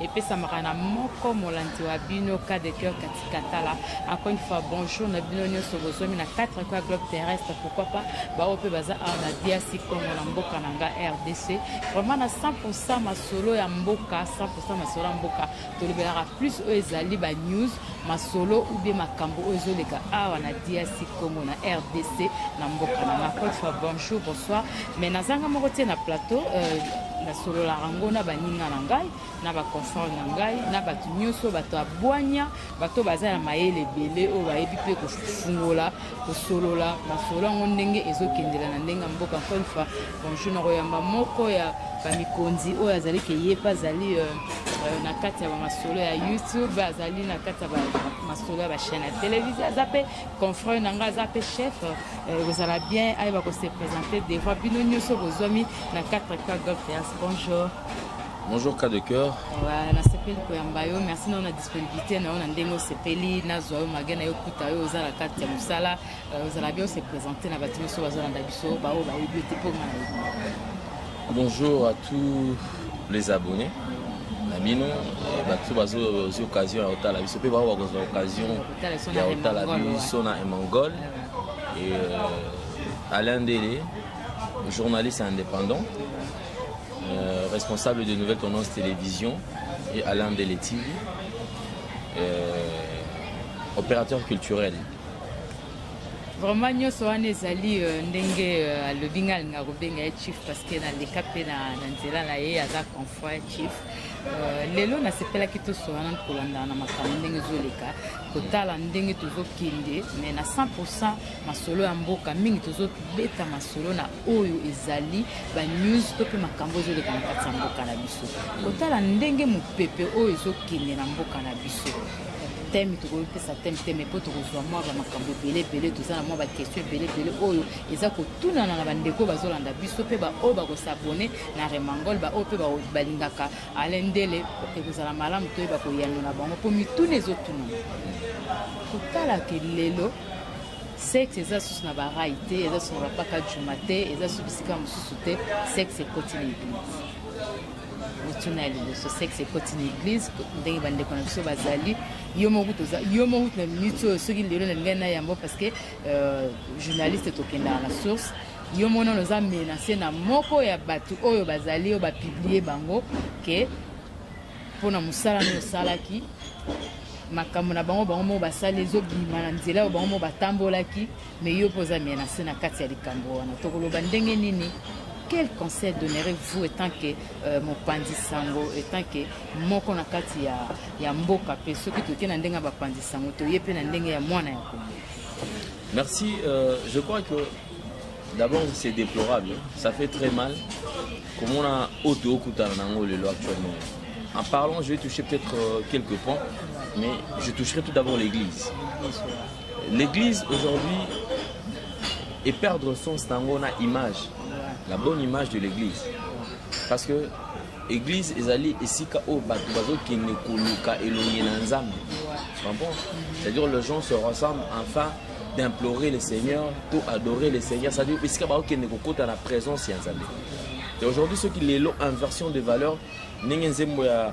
epesamaka na moko molandi wa bino cas de cœur kati katala encore une fois bonjour na bino nyonso bozomi na 4 coin globe terrestre pourquoi pas baoyo mpe baza awa na diasi congo na mboka na nga rdc vraiment na 100 masolo ya mboka 100 masolo ya mboka tolobelaka plus oyo ezali ba news masolo ou bien makambo oyo ezoleka awa na DRC Congo na RDC na mboka na nga encore une fois bonjour bonsoir mais nazanga moko te na plateau euh, nasololaka yango na baninga na ngai na baconfort na ngai na bato nyonso bato ya bwanya bato baza na mayele ebele oyo bayebi mpe kofungola kosolola masolo yango ndenge ezokendela na ndenge ya mboka encore une fois Bonjour, nakoyamba moko ya bamikonzi oyo azali ke ye mpe azali euh, euh, na kati ya bamasolo ya youtube azali na kati ya masolo ya bachaine ya televizio aza mpe confrère na ngai aza mpe chef ekozala euh, bien ayeba kose présente devant bino nyonso bozwami na 4 cœur gol théâtre bonjour bonjour cas de cœur voilà nasepeli koyamba yo merci nao na disponibilité na yo na ndenge osepeli nazwa yo mage na yo kuta yo oza na kati ya mosala ozala bien ose présente na bato nyonso bazolanda biso baoyo bayebi yo te mpo nga na bonjour à tous les abonnés na bino bato bazozwi occasion ya kotala biso mpe bango bakozwa occasion ya kotala biso na emangol e euh, alain ndele journaliste indépendant euh, responsable de nouvelle tendance télévision et alain ndele tv euh, opérateur culturel Vraiment nyoso wana ezali euh, ndenge euh, alobi nga alinga kobenga ye chief parce que naleka mpe na nzela na ye aza confront ya chief Euh, lelo nasepelaki tosolana kolandana na makambo ndenge ezoleka kotala ndenge tozokende mais na 100 masolo ya mboka mingi tozobeta masolo na oyo ezali banews to mpe makambo ezoleka na kati ya mboka na biso kotala ndenge mopepe oyo ezokende na mboka na biso teme tokoki kopesa teme te mai mpo tokozwa mwa bamakambo ebele ebele toza na mwa bakestion ebele ebele oyo eza kotunana na bandeko oyo bazolanda biso mpe baoyo bakosabone na remangol baoyo mpe balingaka ale ndele ekozala malamu toyeba koyanola bango mpo mituna ezotunana kotala ke lelo sexe eza susu na barai te eza susu na bapaka juma te eza susu bisika mosusu te sexe ekoti na eglise motuna ya liboso sexe ekoti na eglise ndenge bandeko na biso bazali yo moko toza yo moko na minute oyo soki lelo nalingai na yango parce que euh, journaliste tokendaka na source yo moko nano oza menase na moko ya bato oyo bazali oyo bapiblie bango ke mpo na mosala nde osalaki makambo na bango bango moko basali ezobima na nzela oyo bango moko batambolaki Mais yo poza menacé na kati ya likambo wana tokoloba ndenge nini quel conseil donnerez-vous étant que euh, mopanzi sango étant que moko na kati ya, ya mboka mpe soki toke na ndenge ya bapanzi sango toye mpe na ndenge ya mwana ya kongo merci euh, je crois que d'abord c'est déplorable ça fait très mal komona oyo tookutana na yango lelo actuellement en parlant je vais toucher peut-être euh, quelques points mais je toucherai tout d'abord l'église Bonsoir. L'eglise aujourd'hui et perdre sens nango na image la bonne image de l'église parce que église ezali esika oyo bato bazokende koluka elongi na nzambe bon c'est-à-dire les gens se ressemblent enfin d'implorer le seigneur to adorer le seigneur c'est-à-dire esika bakokende kokota na présence ya nzambe et aujourd'hui soki lelo inversion de valeur ndenge nzembo ya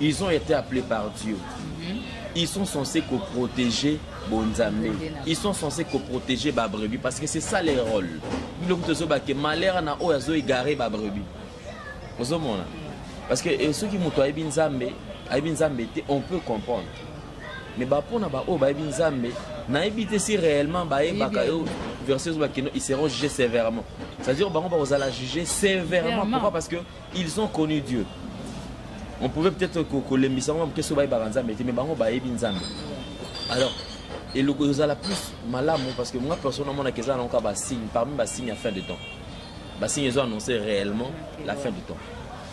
Ils ont été appelés par Dieu. Mhm. Ils sont censés que protéger Bonzambe. Ils sont censés que protéger ba brebis parce que c'est ça les rôles. Biloko tozo ba que malheur na oyo azo égarer ba brebis. Ozo mona. Parce que eh, ceux qui muto ayebi Nzambe, ayebi Nzambe te, on peut comprendre. Mais ba pona ba oyo bayebi Nzambe, na te si réellement ba yebaka yo verset ozo ba que ils seront jugés sévèrement. C'est-à-dire bango ba kozala jugés sévèrement. Pourquoi Parce que Ils ont connu Dieu. On pouvait peut-être kolembisa bango moke soki bayebaka Nzambe te, mais bango bayebi Nzambe. Alors, eloko ezala plus malamu parce que moi personne amonaka eza nango kaka basigne parmi basigne ya fin de temps basigne ezo annonce réellement la fin de temps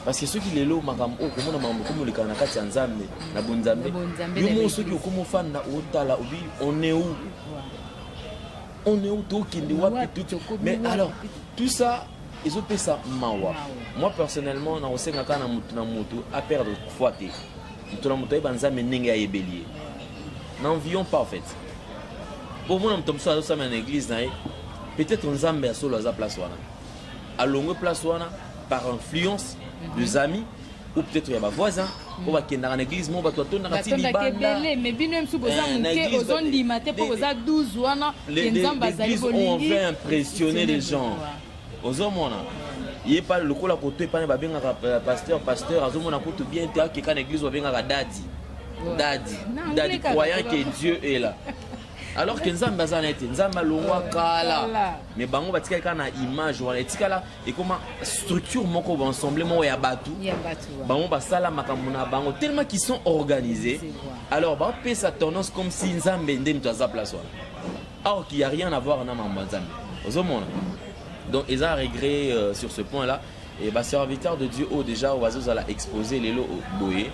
parce que soki lelo makambo oyo komona makambo ekomi olekaka na kati ya nzambe na bonzambe yo moko soki okomi ofanda otala obi on est où on est où tokende wapi tout mais alors tout ça ezopesa mawa moi personnellement nakosenga kaka na motu na motu aperdre foi te moto na moto ayeba nzambe ndenge ayebeli ye n'envions pas en fait bomona moto mosusu azosamela na église na ye peut-être nzambe ya solo aza place wana alongwe place wana par influence des amis ou peut-être ya ba voisins oyo bakendaka na église moko bato batondaka ti libandabele mais bino ye mosusu boza eh, moke ozondima te mpo boza 12 wana ye nzambe azali bolingi on impressionner les gens ozomona ye pa lokola koto epana babengaka euh, pasteur pasteur azomona kutu bien te akeka na église babengaka dadi dadi dadi croyant que dieu est là alors que nzambe aza na ye te nzambe alongwa kala mais bango batikali kaka na image wana etikala ekoma structure moko ba ensemble moko ya bato bango basala makambo na bango tellement qu'ils sont organisés alors bapesa tendance comme si nzambe nde moto aza place wana or qu'il y a rien à voir na mambo ya nzambe ozomona donc eza regret euh, sur ce point là et baserviteur de dieu oyo déjà oyo bazozala expose lelo boye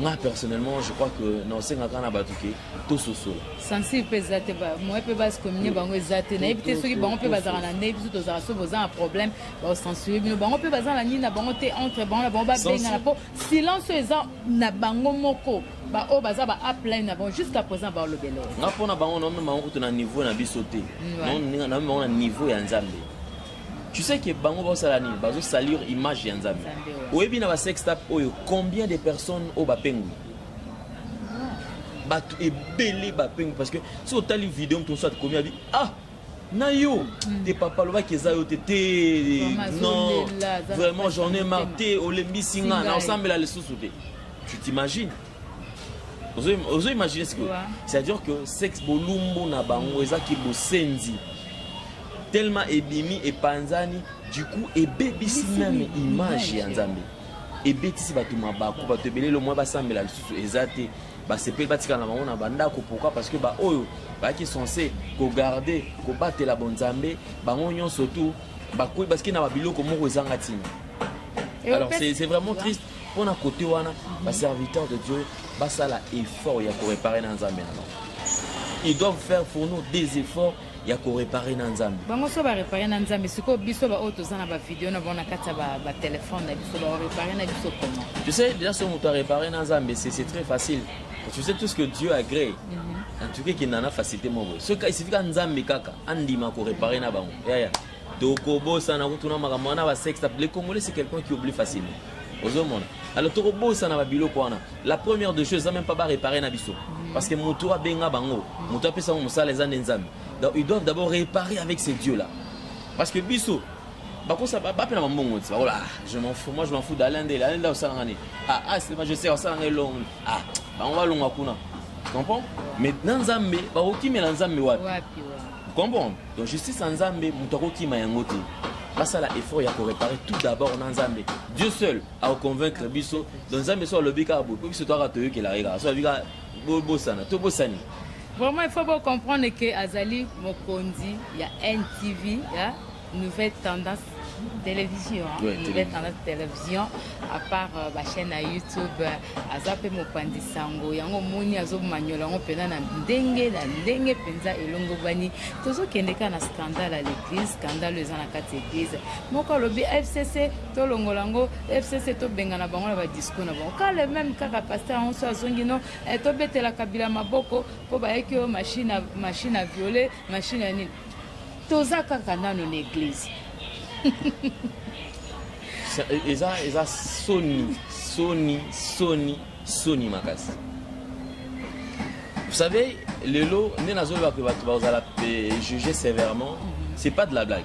nga personnellement je crois que naosengaka na bato ke tososola sensible mpe eza te moye mpe base commune bango eza te nayebi te soki bango mpe bazalaka na ndenge biso tozalaka soki boza na problème baosensure bino bango mpe baza na nini na bango te entre bango na bango babengana mpo silence oyo eza na bango moko baoyo baza ba upline na bango jusqu'à présent baolobela nga mpo na bango naomema bango kutu na niveau na biso te naomema bango na niveau ya nzambe tu sais que bango basala nini bazosalir image ya nzambe oyebi na basextap oyo combien de personnes oyo bapengwi bato ebele bapengwi parce que soki otali video moto mosusu atikomi abi ah na yo hmm. te papa alobaki eza yo te te non vraiment j'en ai marre te olembisi nga na osambela lisusu te tu t'imagines ozo imagine sikoyo c'est-à-dire que sexe bolumbu na bango ezaki bosenzi tellement ebimi epanzani du coup ebebisi meme image ya nzambe ebetisi bato mabaku bato ebele lelo mwa basambela lisusu eza te basepeli batikala na bango na bandako pourquoi parce que baoyo bayaki sense kogarde kobatela bonzambe bango nyonso tu bakoyi basiki na babiloko moko ezanga ntina alors c'est vraiment triste mpo na kote wana baserviteur de dieu basala effort ya korepare na nzambe na bango ils doivent faire pour nous des efforts ya korepare na nzambe bango so barepare na nzambe sikoyo biso baoyo toza na bavideo na bango na kati ya batelefone na biso barepare na biso koma tu sais déjà so moto arepare na nzambe c'est très facile tu sais tout ce que dieu agree mm -hmm. en tout cas ekenda na facilité moko soki esifika nzambe kaka andima korepare na bango yaya yeah, yeah. tokobosana kutuna makambo wana basexe le congolais c'est quelqu'un qui oublie facilement ozomona alors tokobosana babiloko wana la première de choses eza même pas ba réparer na biso parce que moto abenga bango moto apesa bango mosala eza nde nzambe donc ils doivent d'abord réparer avec ces dieux là parce que biso bakosa bapena bambongo ti bakola ah, je m'en fous moi je m'en fous d'alain ndele alain ndele osalanga nini ah ah c'est pas je sais osalanga elongo ah bango balonga kuna comprends mais na nzambe bakokimela nzambe wapi wapi wa comprends donc justice ya nzambe moto akokima yango te basala effort ya koréparer tout d'abord na nzambe dieu seul au convaincre biso donc nzambe so alobi kaka boye mpo biso toyaka toyokelaka ye kaka so alobi kaka bobosana tobosani vraiment il faut bocomprendre ke azali mokonzi ya ntv ya nouvelle tendance télévision hein? ouais, nouvelle tendance télévision à part euh, bachaîne ya youtube euh, aza mpe mopanzi sango yango omoni azomanyola yango mpenza na ndenge na ndenge mpenza elongobani tozokende kaka na scandale ya l'église scandale eza na kati ya église moko alobi fcc tolongola yango fcc tobengana bango na badiscour na bango ka le meme kaka paster yango so azongi no eh, tobetela kabila maboko mpo bayeki oyo machine machine a viole machine ya nini toza kaka nano na eglise eza eza soni soni soni soni makasi vous savez lelo nde nazoloba mpe bato bazala juge sévèrement mhm. c'est pas de la blague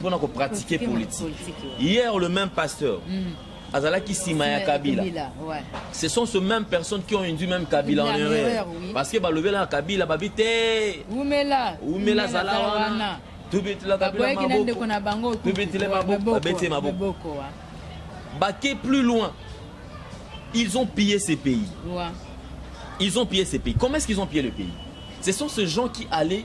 pona ko pratiquer politique hier le même pasteur mm. azalaki sima ya kabila ce sont ce même personnes qui ont induit même kabila en erreur parce que balobelaka kabila babi te umela umela zala wana tubetela kabila maboko tubetela maboko babete maboko bake plus loin ils ont pillé ces pays ils ont pillé ces pays comment est-ce qu'ils ont pillé le pays ce sont ces gens qui allaient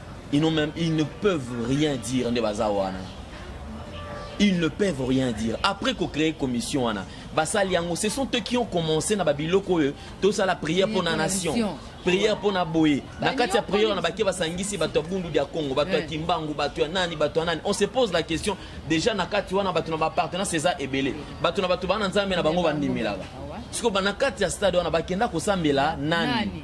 Ils n'ont même, ils ne peuvent rien dire nde baza wana. Ils ne peuvent rien dire. Après ko créer commission wana, basali yango ce sont eux qui ont commencé na babiloko oyo tosala prière pour na nation. prière mpo na boye na kati ya prière wana bake basangisi bato ya bundu dia congo bato ya eh. kimbangu bato ya nani bato ya nani on se pose la question déjà na kati wana bato na bapartenance eza ebele bato na bato bana nzambe na bango bandimelaka ah sikoyo na kati ya stade wana bakenda kosambela nani, nani?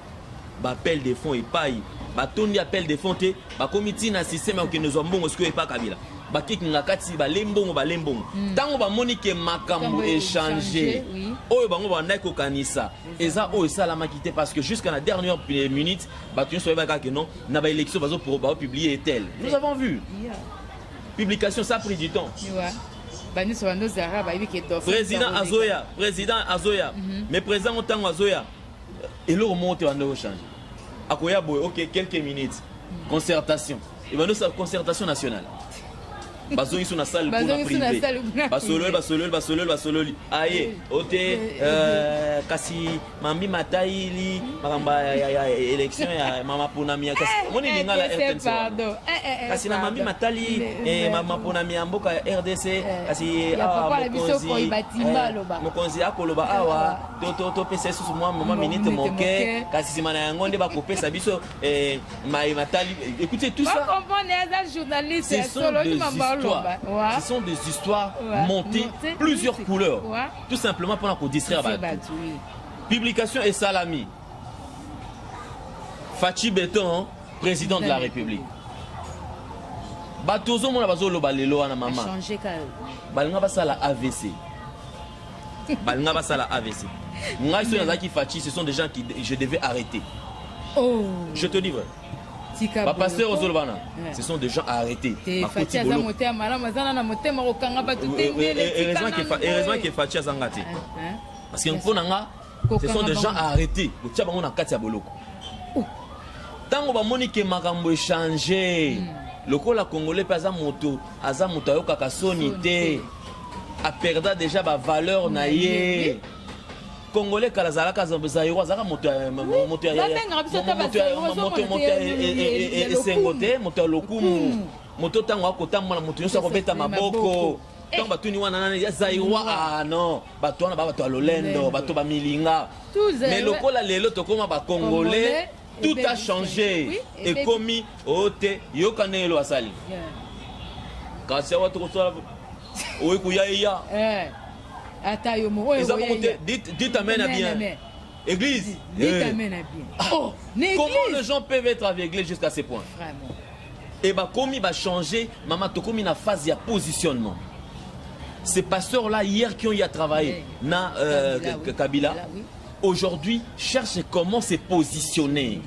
ba appel de fonds epayi batondi appel de fonds te bakomi ti na système ya kokende zwa mbongo sikoyo epa kabila bakikinga kati bale mbongo bale mbongo ntango hmm. bamoni ke makambo echange oyo bango babandaki kokanisa eza oyo esalamaki te parce que jusqu'à la dernière minute bato nyonso bayebaki kaka ke non na baélection bazopublie etel nous avons vu publication ça pris du temps président azoya président azoya mhm. mais président ntango azoya eloko moko te banda ochange akoya boye ok quelques minutes concertation ebanda osala concertation nationale bazongi so na salle mpona prive basololi basololi basololi basololi aye ote euh, kasi mambi matayili makambo ya élection ya mama ponami ya kasi eh, omoni eh, lingala rtnc eh, kasi na mambi matali mama ponami ya mboka ya rdc kasi awa ah, mokonzi akoloba awa topesa lisusu mwa moma minite moke kasi nsima na yango nde bakopesa biso eh, maye matali écoutez tout ça ce sont des histoires ce sont des histoires montées plusieurs couleurs tout simplement mpona kodistraire bato publication esalami fachi beton président de la république bato ozomona bazoloba lelo wana mama balinga basala avc balinga basala avc ngai soki nazalaki faci ce sont des gens qui je devais arrêter oh. je te dis vrai bapasteur ozoloba na ce sont des gens à arrêter heureusement ke faci azanga te parce que mpo na nga Ce sont des gens à arrêter, botia bango na kati ya boloko. Tango bamoni ke makambo echange, hmm. lokola congolais mpe aza moto, aza moto ayokaka soni te, aperda deja bavaleur na ye. congolais kala azalaka zairo azalaka moto ya esengo te moto ya lokumu hmm. moto ntango akotambola moto nyonso akobeta maboko ntango batuni wana nani ya zairoi ah non bato wana ba bato ya lolendo bato bamilinga mais lokola lelo tokoma bacongolais tout a change ekomi oyo oh, te yoka ndenge elo asali kasi awa tokosala oye koya eya eh. ata yo moko eza moko te dit amen a bien église dit eh. amen a bien oh, comment les gens peuvent être aveuglés jusqu'à ce point vraiment Et bakomi ba changer, maman tokomi na phase ya positionnement. Ces pasteurs là hier qui ont y a travaillé na euh, Kabila, Kabila aujourd'hui cherche comment se positionner.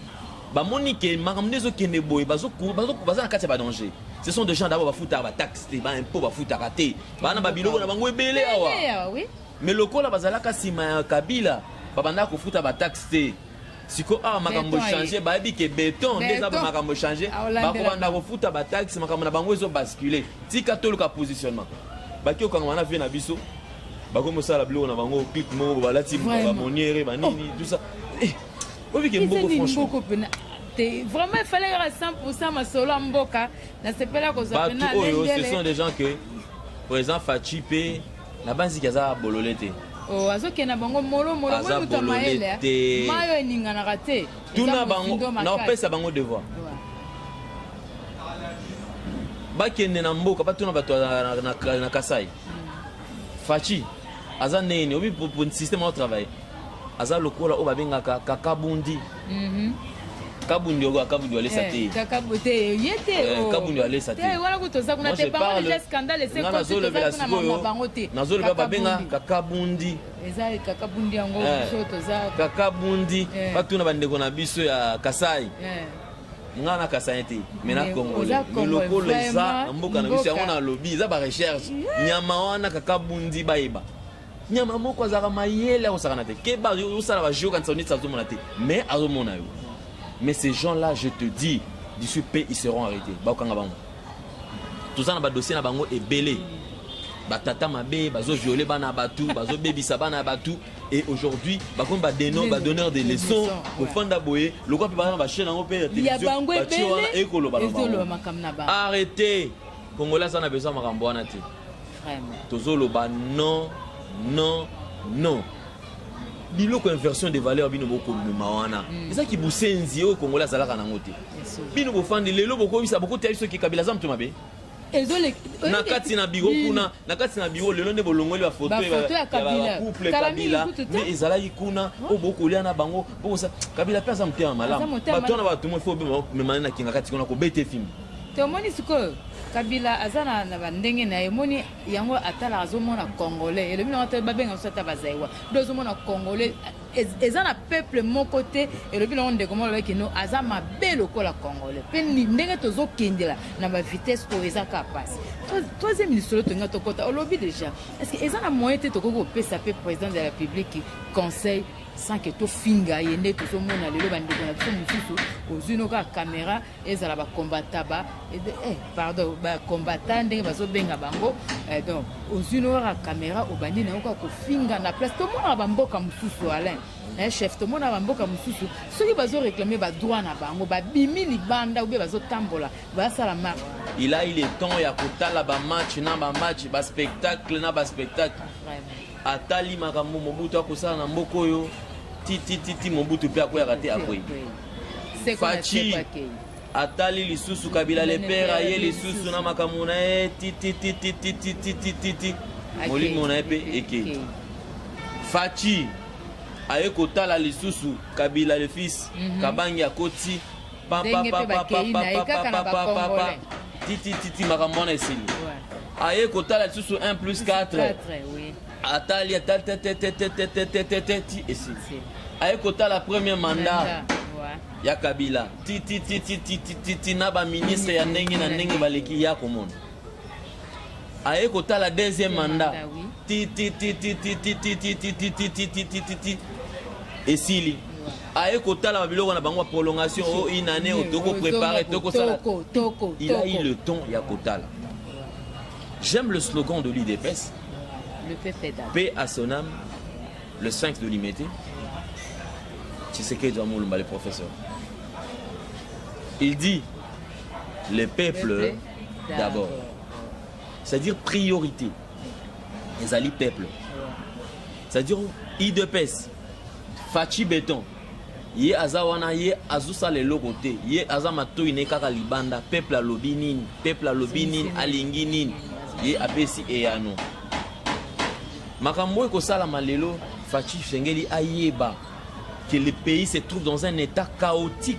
bamoni ke makambo nde ezokende boye baza na kati ya badanger ce sont des gens d'abord bafutaka bataxe te baimpo bafutaka te baa na babiloko na bango ebele awa mais lokola bazalaka nsima ya kabila babandaka kofuta bataxe te siko awa makambo echange bayebi ke beton nde eza makambo echange bakobanda kofuta bataxe makambo na bango ezo bascule tika toluka positionnement baki okangama na vie na biso bakomi osala biloko na bango clip moko balati bamoniere banini oh. tusa eh, obike mboko franchement te vraiment efale kaka 100 masolo ya mboka nasepela kozwa bato oyo ce sont des gens que président faci mpe Nabanzi ke aza bolole te. Oh, azokende na bango molo molo Aza moto ya bolole mayele, eh. te. mayi oyo eninganaka te Eza tuna bango mozindo makasi. naopesa bango devoir Ouais. bakende na mboka batuna bato ya- na, na, na kasai faci aza ndenge nini obi po- po systeme ao travaille aza lokola oyo babengaka kakabundi kabundi oyo kabundi alesa eh, te kakabu te ye te eh, oh. kabundi alesa te eh, wana kutoza kuna te bango déjà scandale ese ko tozolobela sikoyo nazolobela babenga kakabundi eza kakabundi yango biso toza kakabundi batuna bandeko na biso ya kasai nga na kasani te me na congolais lokolo eza na mboka na biso yango nalobi eza barecherche nyama wana kaka bundi bayeba nyama moko azalaka mayele akosakana te keba osala bajeu kanisa oneti azomona te mais azomona yo mais ces gens là je te dis d'ici pe ils seront arrêtés bakokanga bango toza na badossier na bango ebele batata mabe bazoviole bana ya bato bazobebisa bana ya bato et aujourd'hui bakomi badonneur de leçon kofanda boye lokwa mpe baza na bachaine yango mpe ya television batie wana ekoloba na bango arrete congolais aza na besoin makambo wana te tozoloba non non non biloko inversion de valeur bino bokomema wana mm. eza kibusenzi oyo kongola azalaka nango te bino bofandi lelo bokoyebisa bokotia biso kikabila aza moto mabe na kati na biro kuna na kati na biro lelo nde bolongoli bafoto ya couple kabila nde ezalaki kuna oyo oh, bokolia na bango bokosa kabila mpe aza motema malamu bato wana bato mo fo memani na kinga kati kuna kobete fimbi te omoni sikoyo kabila aza na, na bandenge na ye moni yango atalaka azomona congolais elobi nango ata babenga biso ata bazaiwa do azomona congolais eza na peuple moko te elobi nango ndeko moko alobaki no aza mabe lokola congolais mpe ndenge tozokendela na bavitesse oyo eza ka mpasi troisième lisolo tolinga tokɔta olobi déjà parce que eza na moyen te tokoki kopesa mpe président de la république conseil sans que tofinga ye nde tozomona lelo bandeko na biso mosusu ozwi no kaka caméra ezala ba combattant ba eh, pardon ba combattant ndenge bazobenga bango eh, donc ozwi noyaka caméra obandi na yo kaka kofinga na place tomonaka bamboka mosusu alain eh, chef tomona bamboka mosusu soki bazoreklame badroit na bango babimi libanda obe bazotambola basala marche il a eu le temps ya kotala bamatch na bamatch baspectacle na baspectacle atali makambo mobutu akosala na mboka oyo titititi mobutu mpe akweyaka te akwei faci atali lisusu kabila lepere aye lisusu na makambo na ye tititititititititi molimo na ye mpe ekei faci aye kotala lisusu kabila le fils mhm. kabangi akoti ndenge pe bakei na ye kaka na ba congolais titititi makambo wana esili aye kotala lisusu 1 plus 4 atali atali teteteteteteteteti esili aye kotala premier mandat ya kabila tititititititi na baministre ya ndenge na ndenge baleki ya komona aye kotala deuxième mandat titititititititititititititi esili aye kotala babiloko na bango baprolongation o une année oyo tokoprépare tokosala il a eu le temps ya kotala j'aime le slogan de l'udps paix à son âme le sphinx de limete tshisekedi wa molumba le professeur il dit le peuple d'abord c'est-à-dire priorité ezali peuple c'est-à-dire idps faci beton ye aza wana ye azosala eloko te ye aza matoi ne kaka libanda peuple alobi nini peuple alobi nini alingi nini ye apesi eyano makambo oyo ekosalama lelo faci sengeli ayeba que le pays se trouve dans un état chaotique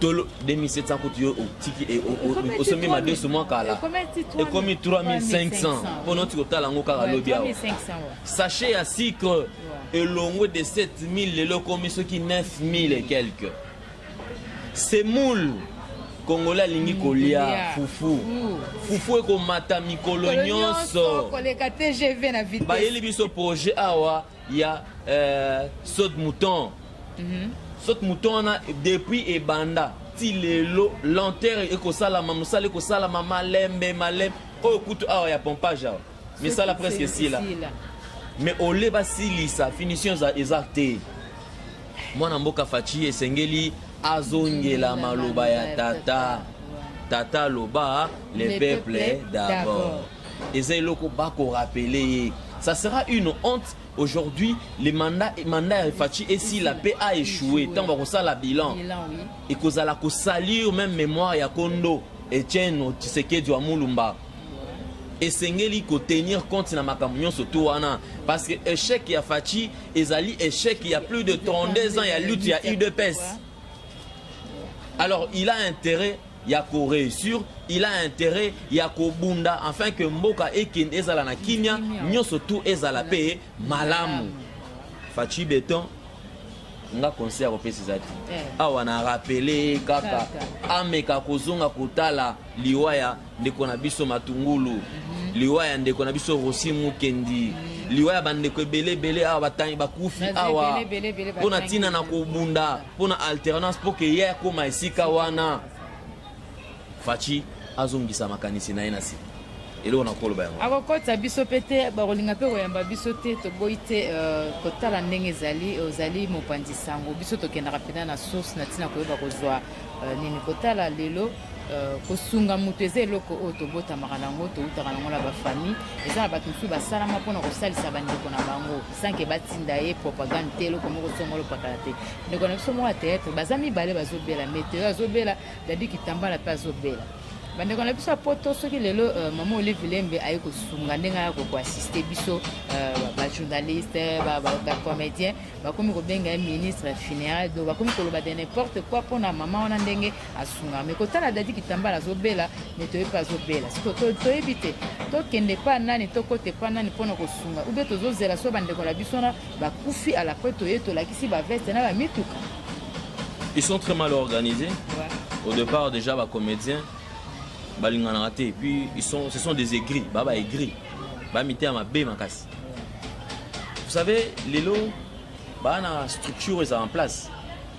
tolo 2700 kutu yo otiki e, osombi madesu mwa kala ekomi 3500 mpo noti kotala yango kaka lobi awa sachet ya sucre elongwe de 7000 lelo ekomi soki 9000 et quelque semoule kongola alingi kolia fufu fufu ekomata mikolo nyonso bayeli biso projet awa ya euh, saut de mouton mm -hmm. saut de mouton wana depuis ebanda ti lelo lenteur ekosalama mosala ekosalama malembe malembe oyo kutu awa ya pompage awa misala presque esila mais ole basilisa finition eza te mwana mboka faci esengeli azongela maloba ya tata tata loba le peuple d'abord eza eloko bako rappeler ye ça sera une honte aujourd'hui le mandat mandat ya Fatshi esila pe a échoué ntango bakosala bilan ekozala kosalir même mémoire ya kondo Etienne Tshisekedi wa Mulumba esengeli kotenir compte na makambo nyonso to wana parce que échec ya Fatshi ezali échec ya plus de 32 ans ya lutte ya UDPS alors il a intérêt ya ko reussir il a intérêt ya kobunda afin que mboka ekende ezala na kimia nyonso tu ezala pe malamu faci beton nga conseil ya kopesa eza te eh. awa na rapele kaka ameka kozonga kotala liwa ya ndeko na biso matungulu mhm. liwa ya ndeko na biso rosi mukendi mhm. liwa ya bandeko ebele ebele awa bakufi awa mpo na ntina na kobunda mpo na alternance mpo ke ye akoma esika wana faci azongisa makanisi na ye na sika eloko na koloba yango akokotisa biso mpe te bakolinga mpe koyamba biso te toboyi te euh, kotala ndenge ezali ozali mopanzi sango biso tokendaka mpena na source na ntina koyeba kozwa euh, nini kotala lelo Euh, kosunga moto eza eloko oyo tobotamaka na yango toutaka na yango na bafamille eza na bato mosusu basalama mpona kosalisa bandeko na bango sans que batinda ye propagande te eloko moko songo lopakala te ndeko na biso moko ya théâtre baza mibale bazobela meteo azobela dadi kitambala mpe azobela bandeko na biso ya poto soki lelo euh, mama olive lembe aye kosunga ndenge aya kokoassiste biso euh, bajournaliste bacomédien bakomi kobenga ye ministre funéral donc bakomi koloba de n'importe quoi mpona mama wana ndenge asunga me kotala dadi kitambala azobela me toyebi mpe azobela siko toyebi te tokende epa nani tokota epa nani mpo na kosunga ube tozozela so bandeko na biso na bakufi alapre toye tolakisi baveste na bamituka ils sont très mal organisés ouais. au départ déjà bacomédien balinganaka te puis ils sont, ce sont des aigris ba baigri bamiteya mabe makasi vous savez lelo baa na structure eza en place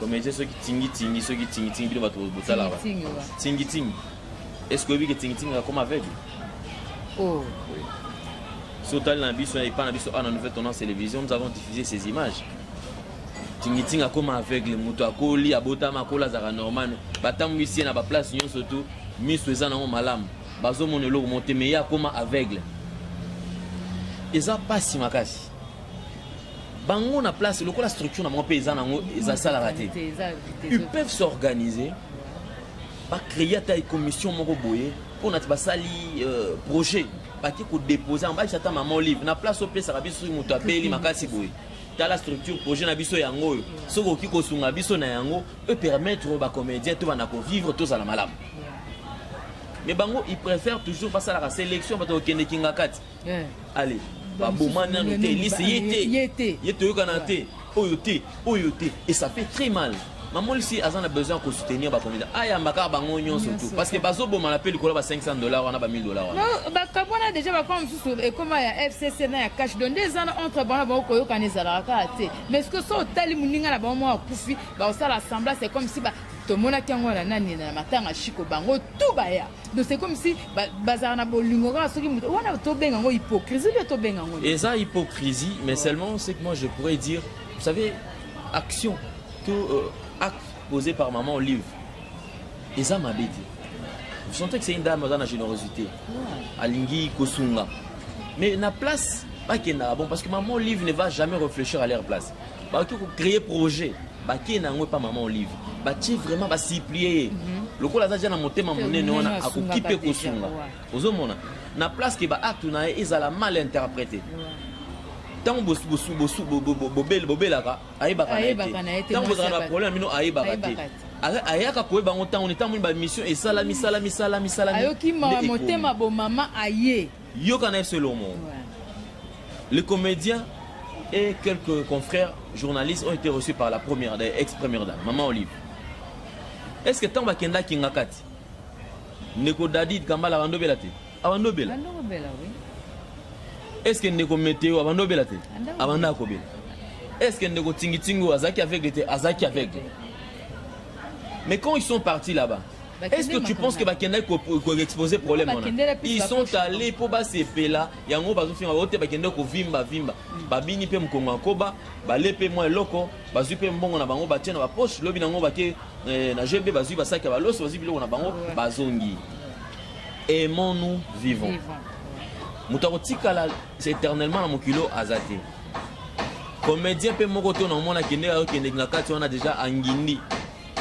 kometie soki tingitingi soki tingitingi bino bato botalaka tingitingi est ce que oyebi ke tingitingi akoma aveugle oh. oui. so otali na biso epa na biso awa na nouvelle tendance télévision nous avons diffusé ces images tingitingi akoma aveugle moto akoli abotama akola azalaka normal batambwisi ye na baplace nyonso tu miso eza nango malamu bazomona eloko mo te me ye akoma aveugle eza mpasi makasi bango na place lokola structure na bango mpe eza nango eza salaka te ils peuvent s'organiser bacreye ata commission moko boye mpo na ti basali euh, projet baki kodepose yango bakisa ata mama olive na place opesaka biso soki moto abeli makasi boye tala structure projet na biso yango oyo soki okoki kosunga biso na yango peut permettre bacomédien to banda kovivre tozala malamu mais bango ils préfèrent toujours basalaka sélection bato kokende kingakati eh. ale baboma nanu te elise ye te ye toyokana te oyo te oyo te et ça fait très mal mamolisi aza na besoin ya kosoutenir bakomida ayamba kaka bango nyonso tu parce que bazobomana mpe likolo ba 500 dollar wana ba 1000 dollar wana bakambo wana deja bakoma mosusu ekoma ya fcc na ya cash don nde eza na entre bango na bango koyokana ezalaka kaka te mais ce que so otali moninga na bango mwa akufi bakosala semblance comme si tomonaki yango wana nani na matanga shiko bango tu baya donc c'est comme si bazala na bolingo kaka soki moto wana tobenga yango hypocrisie mpe tobenga yango eza hypocrisie mais seulement ce que moi je pourrais dire vous savez action to euh, acte posé par maman olive eza mabe te vous sentez que c'est une dame aza na générosité alingi kosunga mais na place bakendaka bon parce que maman olive ne va jamais réfléchir à leur place bakoki kocreye projet bakei na yango epa mama olive batie vraiment basiplie ye mhm. lokola aza ja na motema monene wana akoki mpe kosunga ozomona na place ke baacte na ye ezala mal interprete ntango bobelaka ayebaka na ye te ntango bozala na baproblème bino ayebaka te ayaka koyeba yango ntango ntango nini bamission esalami salami salami salami ayoki motema bomama aye Yoka na FC Lomo. Le comédien et quelques confrères journalistes ont été reçus par la première, ex-première dame, Maman Olive. Est-ce que tant bakenda kingakati, Neko Dadid Kambala bandobela te? Abandobela. Bandobela oui. Est-ce que Neko Meteo abandobela te? Abanda akobela. Est-ce que Neko Tingitingo azaki aveugle te? Azaki aveugle. Mais quand ils sont partis là-bas, Est-ce que tu penses que bakendaki koexpose problème wana ils sont allés mpo basepela yango bazofinga bango te bakende kovimba vimba mm. babini mpe mokongo ya koba bale mpe mwa eloko bazwi mpe mbongo na bango batie na bapoche lobi na yango bake eh, na gb bazwi basaki ya baloso bazwi biloko na bango bazongi aimons nous vivons moto akotikala éternellement na mokilo aza te comédien mpe moko to na omona akendeki akokendeki na kati wana deja angindi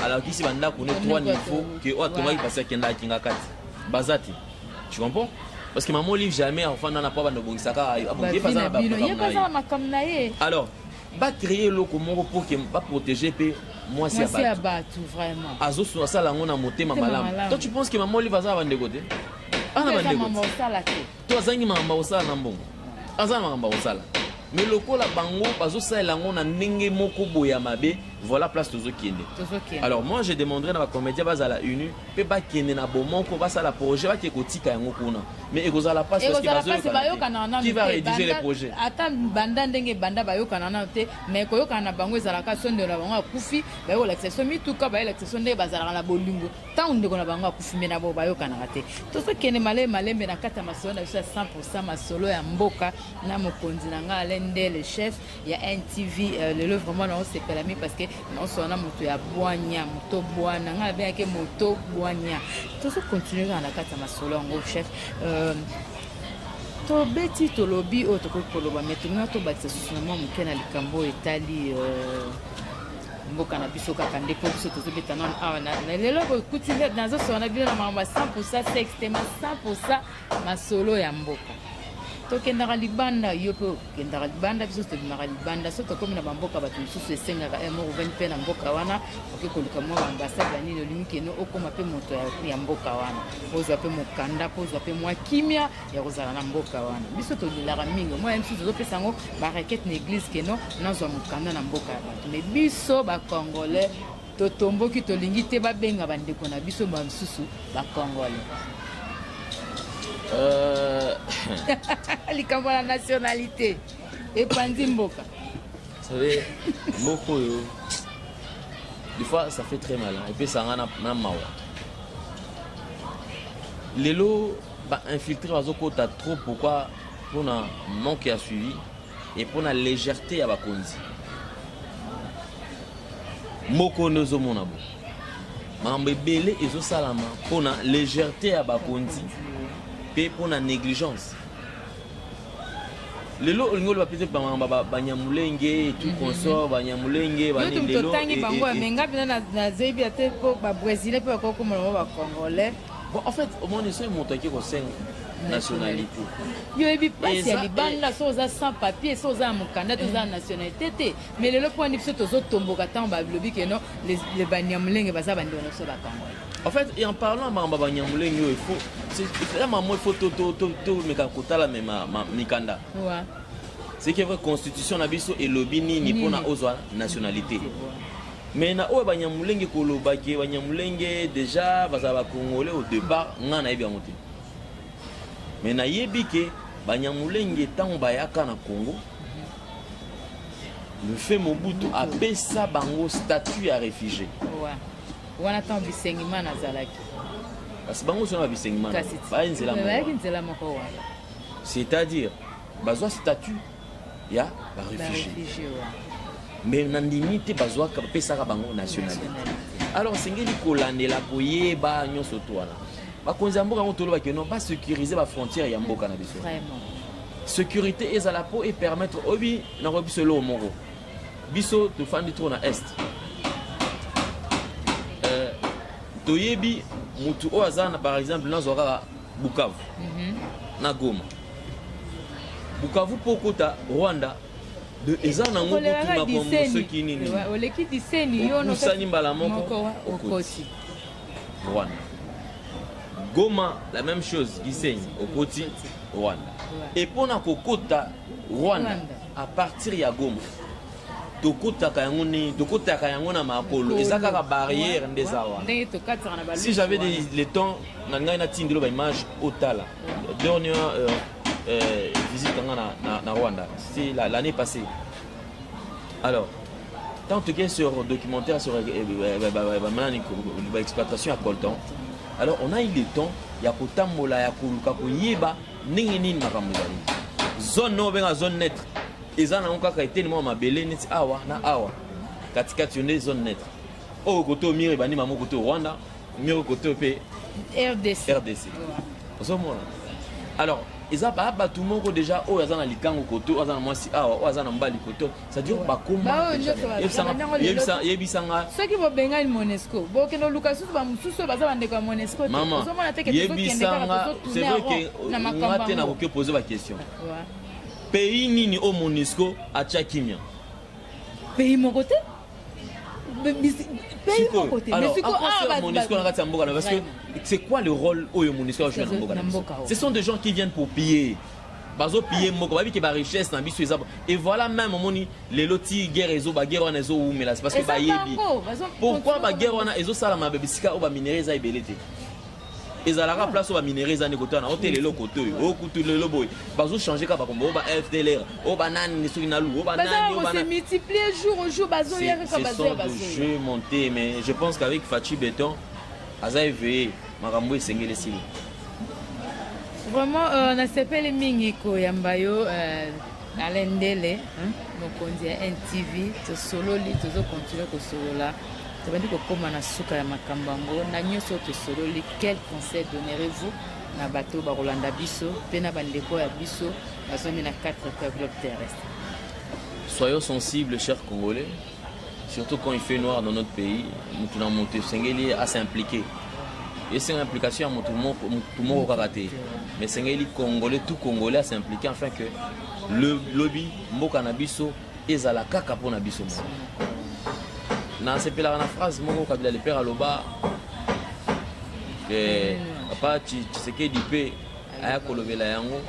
alakisi bandako ne trois niveau ke oyo atongaki pasi akendaka kingakati baza te tu comprends parce que maman olive jamais afanda na po abanda obongisaka abongiepazana makambo na ye alors bacreye eloko moko po ke baprotege mpe mwasi ya bato vraiment azosu asala yango na motema malamu to tu penses que maman olive aza na bandeko te ana bandeko to azangi makambo akosala na mbongo aza na makambo akosala me lokola bango bazosalela yango na ndenge moko boye ya mabe voilà place tozokende alors moi je demanderai na bacomédien bazala uni mpe bakende na bomoko basala projet bake kotika yango kuna mais ekozala mpasi qui va rédiger les projets ata banda ndenge banda bayokana nano te mais koyokana na bango ezalaka so ndelo na bango akufi baye kolakisa so mituka baye lakisa so ndenge bazalaka na bolingo Ntango ndeko na bango akufi mbe na bo bayokanaka te. Tozokende malembe malembe na kati ya masolo na biso ya 100% masolo ya mboka na mokonzi na ngai Alain Ndele chef ya NTV euh, lelo vraiment naosepela mingi parce que naosolola na moto ya bwanya moto bwana ngai abengaki moto bwanya tozokontinue kaka na kati ya masolo yango chef euh, tobeti tolobi oyo tokoki koloba me tolinga tobakisa susu na mwa moke na likambo oyo etali euh, mboka na biso kaka nde mpo biso tozobeta nano awa na lelo bokuti nde nazosola na bino na makambo ya 100 poursa sexte ma 100 poursa masolo ya mboka tokendaka libanda yo mpe okendaka libanda biso tobimaka libanda so tokómi na bamboka bato mosusu esengaka eh, moko ovandi mpe na mboka wana oke koluka mwa baambasade ya nini olingi keno okóma mpe moto ya mboka wana ozwa mpe mokanda mpo ozwa mpe mwa kimia ya kozala na mboka wana biso tolelaka mingi omona biso tozopesa yango barakete na eglise keno nazwa mokanda na mboka ya bato me biso bacongolais totomboki tolingi te babenga bandeko na biso basusu bacongolais euh, likambo ya nationalité epanzi mboka savez mboka oyo des fois ça fait très mal epesanga na mawa lelo Ba infiltrés bazo kota trop pourquoi pona manque ya suivi et pona légèreté ya bakonzi. Moko nde ozomona bo makambo ebele ezosalama pona légèreté ya bakonzi mpe pona négligence lelo olingi oloba mpe bamakambo banyamulenge etu mhm. consort banyamulenge banelelo totangi bango amenga mpena nazebi ate mpo babrésilien mpe bakoki komona bango bacongolais En fait, omoni soki moto ake kosenga nationalité yo oyebi mpasi ya libanda so oza sans papier so oza ya mokanda to oza ya nationalité te mais lelo mpo wani biso tozotomboka ntango balobi ke non le banyamulenge baza bandeko na biso bakango en fait et en parlant makambo ya banyamulenge oyo ifo ya mamo ifo tomeka kotala me mikanda ce qui est vrai constitution na biso elobi nini mpona ozwa nationalité Mais na oyo banyamulenge koloba ke banyamulenge deja bazala ba congolais au départ nga nayebi yango te mais nayebi ke banyamulenge ntango bayaka na congo le fait mobutu apesa bango statut ya réfugié wana ntango bisengimana azalaki kasi bango sona ba bisengimana baye nzela moko c'est-à-dire bazwa statut ya ba refugies mais na ndimi te bazwaka pesaka bango nationalité alors esengeli kolandela koyeba nyonso to wana bakonzi ya mboka yango tolobaki no basécurise bafrontière ya mboka na biso sécurité ezala mpo epermettre oyebi nakoki biso eloko moko biso tofandi trop na est euh, toyebi motu oyo aza na par exemple nazwa kaka bukavu mhm. na goma Bukavu po kota Rwanda de eza na ngo kutu makombo soki nini oleki diseni yo no sani mbala moko okoti Rwanda Goma la même chose Gisenyi okoti Rwanda et pona kokota Rwanda à partir ya Goma tokutaka yango nini tokutaka yango na makolo eza kaka barrière nde eza wana si j'avais le temps na ngai natindelo baimage otala Dernière euh, euh, visite nga na, na, na Rwanda, c'est l'année la, passée. Alors, tant que tu sur documentaire sur l'exploitation à coltan, alors on a eu le temps ya kotambola ya koluka koyeba ndenge nini makambo ezali zone oyo obenga zone neutre eza nango kaka eteni mwa mabele neti awa na awa katikati yo nde zone neutre oyo koto mire ebandi mamo koto rwanda Numéro côté au pays. RDC. RDC. Ozo mona. Alors, eza ba bato moko déjà oyo aza na likango koto aza na mwasi awa oyo aza na mbali koto c'est-à-dire bakombayebisanga soki bobengani monesco bokende oluka lisusu bamosusu oyo baza bandeko ya monesco teomona te yebisanga c'est vrai ke nga te nakoki opose baquestion pays nini oyo monesco atya kimia pays moko te c'est quoi le rôle oyo monisco ajoue na mboka na biso ce sont des gens qui viennent pour piller bazo piller mboka bayebi ke barichesse na biso eza et voilà même omoni lelo ti guerre ezo baguerre wana ezowumela parce que bayebi pourquoi baguerre wana ezosalama bisika oyo baminerai eza ebele te ezalaka place oyo baminere eza nde kotana o te lelo koto oyo o kutu lelo boye bazochange kaka bakombo o ba fdlr o banani soki na lu o bananimultiplier jour au jour bazoya kaka bazoya bazoya jeu monté mais je pense qu'avec fachi beton aza éveillé makambo esengeli esili vraiment euh, nasepeli mingi koyamba yo euh, Alain Ndele, mokonzi ya NTV, tosololi, tozo continuer kosolola tobandi kokoma na suka ya makambo yango na nyonso oyo tosololi quel conseil donnerez-vous na bato bakolanda biso mpe na bandeko ya biso bazomi na 4 coeur globe terrestre soyons sensibles chers congolais surtout quand il fait noir dans notre pays mutu na mutu esengeli a s'impliquer esenga implication ya mutu moko mutu moko kaka te mais esengeli congolais tout congolais a s'impliquer afin que le lobi mboka na biso ezala kaka mpo na biso moko nasepelaka na phrase moko kabila le père aloba eh, papa tshisekedi mpe aya kolobela yango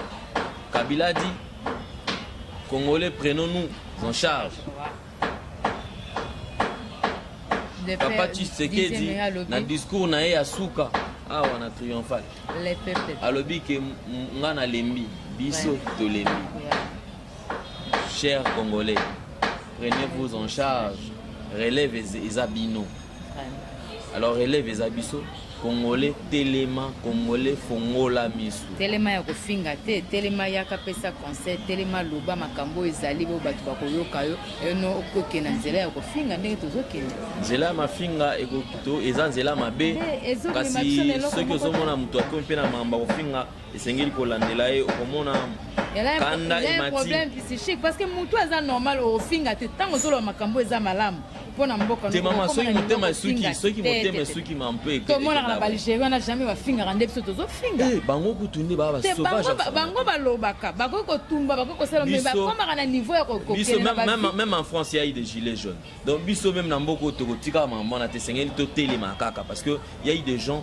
kabila dit congolais prenons nous Son charge. Papa Tshisekedi na discours na ye ya suka awa na triomphal alobi ke nga nalembi biso tolembi chers congolais prenez-vous en charge relève eza bino alors elève eza biso congolais telema congolais fongola misu telema ya kofinga te telema yaka pesa conseil telema loba makambo oyo ezali bo bato bakoyoka yo eno okoke na nzela ya kofinga ndenge tozokende nzela ya mafinga ekokito eza nzela mabe eh, kasi soki ozomona moto akomi mpe na mamba kofinga esengeli kolandela ye okomona kanda emati problème psychique parce que moto aza normal ofinga te ntango ozoloba makambo eza malamu mpona mboka te mama soki motema esuki soki motema esuki ma mpe tomonaka na balgerie wana jamais bafingaka nde biso tozofinga eh, bango kutu nde baa basobango balobaka bakoki kotumba bakoki kosala me bakomaka na niveau ya kokokelememe en france yai de gilet jaune donc biso meme na mboka oyo tokotikaka makambo wana te esengeli totelema kaka parce que yai de gens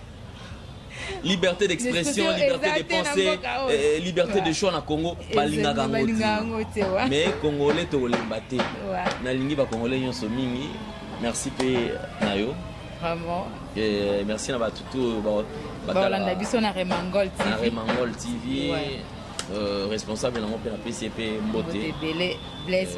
liberté d'expression liberté de pensée euh, liberté de choix na congo balingaka yango te mais congolais tokolemba te nalingi bacongolais nyonso mingi merci mpe na yo vraiment euh, merci na bato to balanda biso na remangol tv na remangol tv euh, responsable nango mpe napesi ye mpe mbote ebele blaise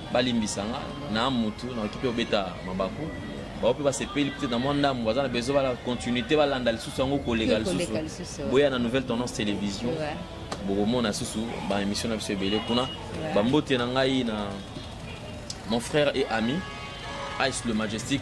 balimbisa nga na mutu nakoki mpe kobeta mabaku bango mpe basepeli peut-être na mwa ndambo baza na besoin bala continuité balanda lisusu yango koleka lisusu boya na nouvelle tendance télévision bokomona susu baémission na biso ebele kuna bambote na ngai na mon frère et ami ice le majestique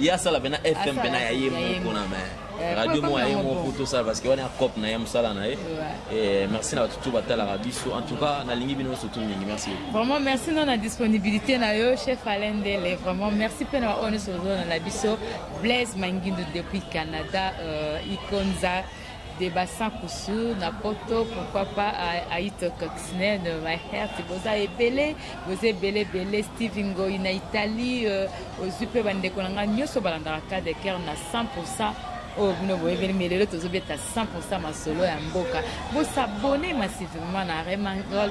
ye asala mpena fm mpena ya ye moko na me eh, radio moko ya ye moko tosala parce que wana cope na ye mosala na ye eh, merci na bato tu batalaka biso en tout cas nalingi bino nyonso tu mingi merci vraiment merci na na disponibilité na yo chef alain ndele vraiment merci mpe na baoyo nyonso ozolona na biso blaise mangindu depuis canada euh, ikonza de bassin kusu na poto pourquoi pas aito coxnen mahert boza ebele boza ebele ebele steve ngoi na italie euh, ozwi mpe bandeko na ngai nyonso balandaka cas de coeur na 100 pourcent oyo oh, bino boyebeli me lelo tozobeta 100 pourcent masolo ya mboka bosabone massivement na remangol